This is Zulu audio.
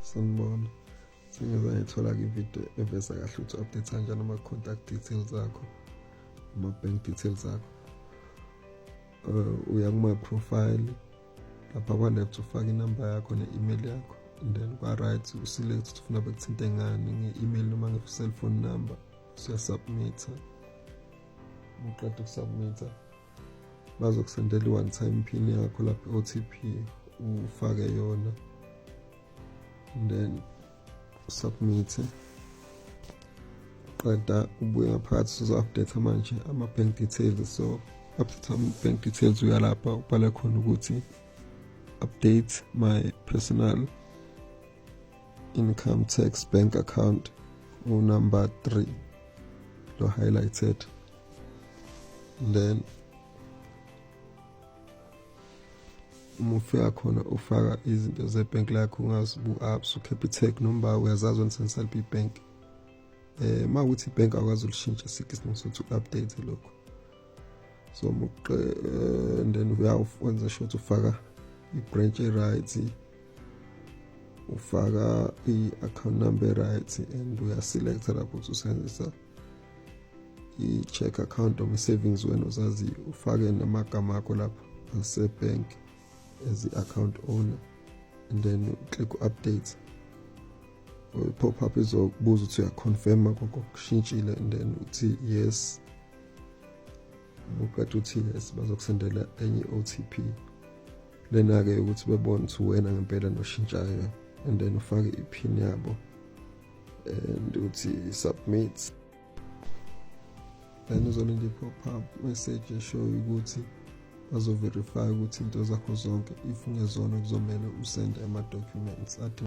sanibona sengize ngithola kwividiyo eveza kahle ukuthi update kanjani ama-contact details akho ama-bank details akho um uh, uya kuma-profile lapha kwa-left ufake inamba yakho ne-email yakho and then kwa-right uselect ukuthi ufuna bekuthinte ngani nge-email noma nge-cellphone number suyasubmitha uqeda ukusubmitha bazokusendela i-one time pin yakho lapho i-otp ufake yona then submit qeda ubuye ngaphakathi sizo-update manje ama-bank details so update ama-bank details uyalapha ubhala khona ukuthi update my personal income tax bank account unumber 3 lo highlighted then uma ufika khona ufaka izinto zebhenk lakho ungazi bu-apps ucapitec noma uyazazi wena sensalb ibank um eh, uma ukuthi ibhenki akwazi ulishintsha sikho isinto sokuthi u-update lokho so muqe eh, and then uyawenza sure ukuthi ufaka i-branch e-right ufaka i-account number e-right and uyaselecta lapho ukuthi usebenzisa i-check account noma i-savings wena uzaziyo ufake namagama akho lapha asebhank as i-account owner and then click update pop up izokubuza ukuthi uyaconfirma konke okushintshile and then uthi yes uqeda uthi yes bazokusendela enye i-otp lena-ke ukuthi bebone ukuthi uwena ngempela noshintshayo and then ufake iphini yabo and uthi submit then uzolinda i-pop up message eshoyo ukuthi bazoverify ukuthi into zakho zonke if ungezona kuzomele usende ama-documents athi